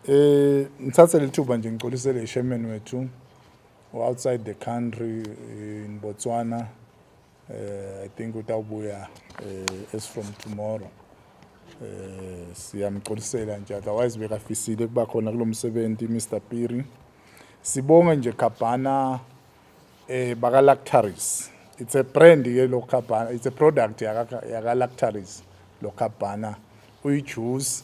Eh ngithathe lethuba nje ngicolisele ishemen wethu outside the country eh, in Botswana eh I think utawubuya eh, as from tomorrow eh siyamcolisela nje otherwise bekafisile kuba khona kulomsebenzi Mr Piri sibonge nje Khabana eh baka Lactaris it's a brand ke lo Khabana it's a product yaka yaka Lactaris lo Khabana uyi juice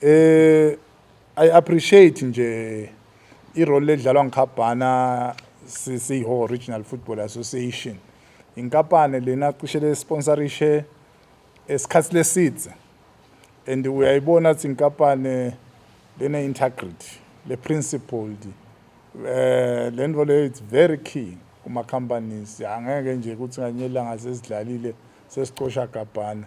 Eh I appreciate nje irole edlalwa ngikhabhana siyiho Original Football Association. Inkampani lena cishe le sponsorishe esikhathi lesidze and uyayibona ukuthi inkampani lena integrity le principled eh lento le it's very key kuma companies angeke nje ukuthi nganyelanga sesidlalile sesicosha gabhana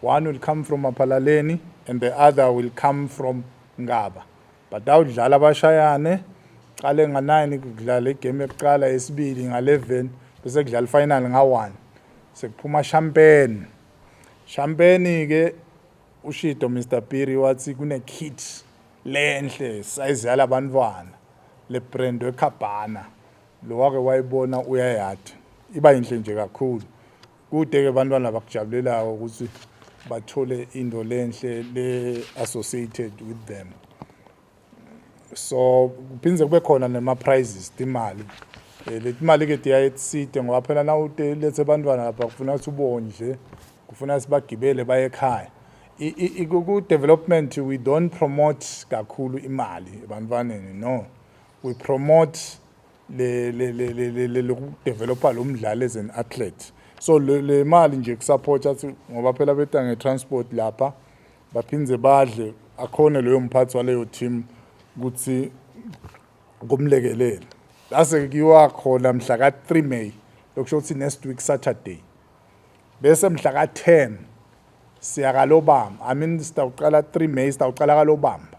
One will come from Maphalaleni and the other will come from Ngaba. But awudlala abashayane qale nga-9 kudlala igame yokuqala yesibili nga-11 bese kudlala ifinal nga-1 sekuphuma champagne champagne-ke ushido mr piri wathi kune-kit lenhle sayizi yala bantwana le brand wekhabhana lo wake wayibona uyayatha iba yinhle nje kakhulu Kude ke bantwana bakujabulelayo ukuthi bathole into lenhle le associated with them. So kuphinde kube khona nema prizes imali. Eh, le imali ke diya etside ngoba phela na ude lethe bantwana lapha kufuna ukuthi ubondle, kufuna sibagibele baye ekhaya. I ku development we don't promote kakhulu imali ebantwaneni no. We promote le le le le le le lokudeveloper lo mdlali as an athlete so le, le mali nje kusupport athi ngoba phela beta nge-transport lapha baphinde badle akhone loyo mphathi waleyo team ukuthi kumlekelele lase kuyiwa khona mhla ka-3 may lokusho ukuthi next week saturday bese mhla ka-10 siyakalobamba i mean sitawuqala 3 may sitawuqala kalobamba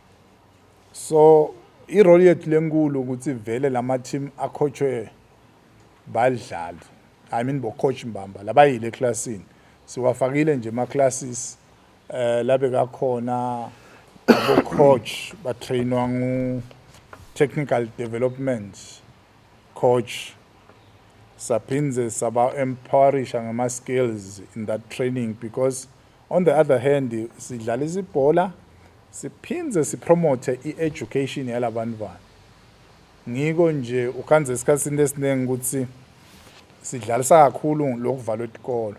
so irole yethu lenkulu ukuthi vele lama team akhotshwe badlali i mean bocoach mbamba labayile eclassini siwafakile nje ama classes eh labe kakhona abo coach ba trainwa ngu technical development coach saphindze saba empowerisha ngama skills in that training because On the other hand sidlalisa ibhola siphinde sipromote i-education yalabantwana ngiko nje ukhanze esikhathini esiningi ukuthi sidlalisa kakhulu lokuvalwa etikolo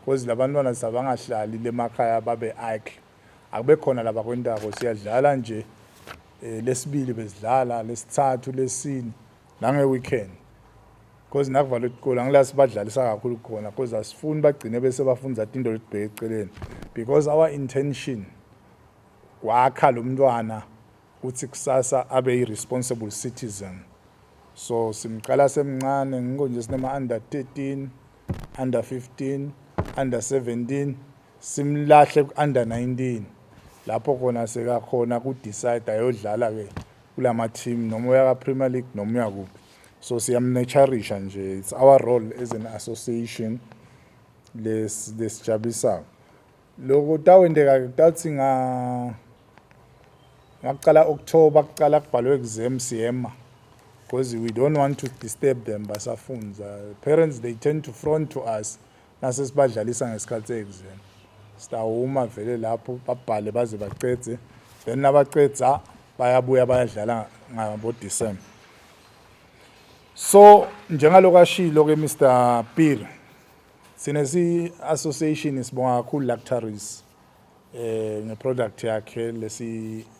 because labantwana sabangahlali lemakhaya babe idle akube khona laba kwentako siyadlala nje eh, lesibili besidlala lesithathu lesini nange-weekend because nakuvala isikole angilazi badlalisa kakhulu khona because asifuni bagcine bese bafunza into lelibheke eceleni because our intention kwakha lo mntwana ukuthi kusasa abe yi-responsible citizen so simqala semncane ngikho nje sinema-under 13 under 15 under 17 simlahle ku-under 19 lapho khona sekakhona ku-decide ayodlala-ke kula ma-team noma uya ka-premier league noma uya kuphi so siyamnetsharisha nje it's our role as an association lesijabulisayo lokho tawendeka kutawuthi nga ngakuqala october kuqala kubhalwe exam siyema because we don't want to disturb them basafunza parents they tend to front to us Nase sibadlalisa ngesikhathi se-exam. Sitawuma vele lapho babhale baze bacedze. Then nabacedza bayabuya bayadlala ngabo-December. So njengaloko ashilo ke Mr Pir sine si association sibonga kakhulu Lactaris eh nge product yakhe lesi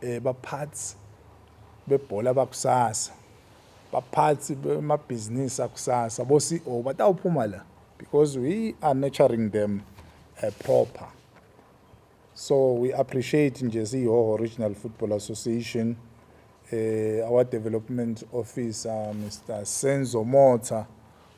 eh baphathi bebhola bakusasa baphathi bemabhizinisi akusasa bo CEO batawuphuma la because we are nurturing them uh, proper so we appreciate nje siyihoho regional football association eh our development officer Mr Senzo Motha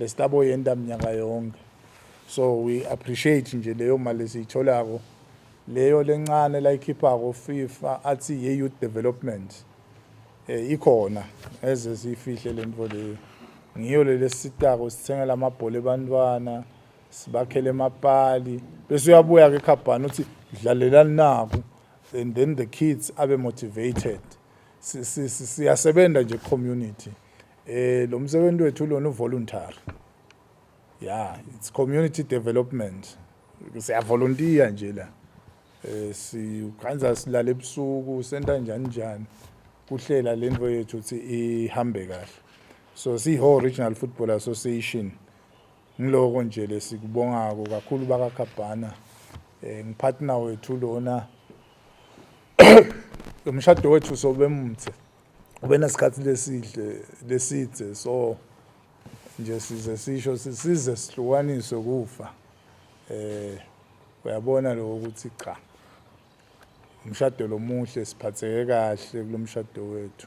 Lestabo yenta mnyaka yonke. So we appreciate nje leyo mali esiyitholako. Leyo lencane layikhiphako FIFA athi ye youth development. Eh ikhona eze sifihle lento leyo. Ngiyo lelesitako sithengela amabhola ebantwana. sibakhele emapali bese uyabuya ke khabhani uthi dlalelani naku and then the kids abe motivated siyasebenza nje community Eh lo msebenzi wethu lona uvoluntary. Yeah, it's community development. Siya volunteer nje la. Eh sikhanza silale ebusuku senta njani njani. Kuhlela lento yethu ukuthi ihambe kahle. So si whole regional football association ngiloko nje lesikubongako kakhulu baka Khabhana. Eh ngipartner wethu lona. Umshado wethu sobemthe. ubenesikhathi lesihle lesidze so nje size sisho size sihlukaniswe kufa eh uyabona lokho ukuthi cha umshado lomuhle siphatheke kahle kulomshado wethu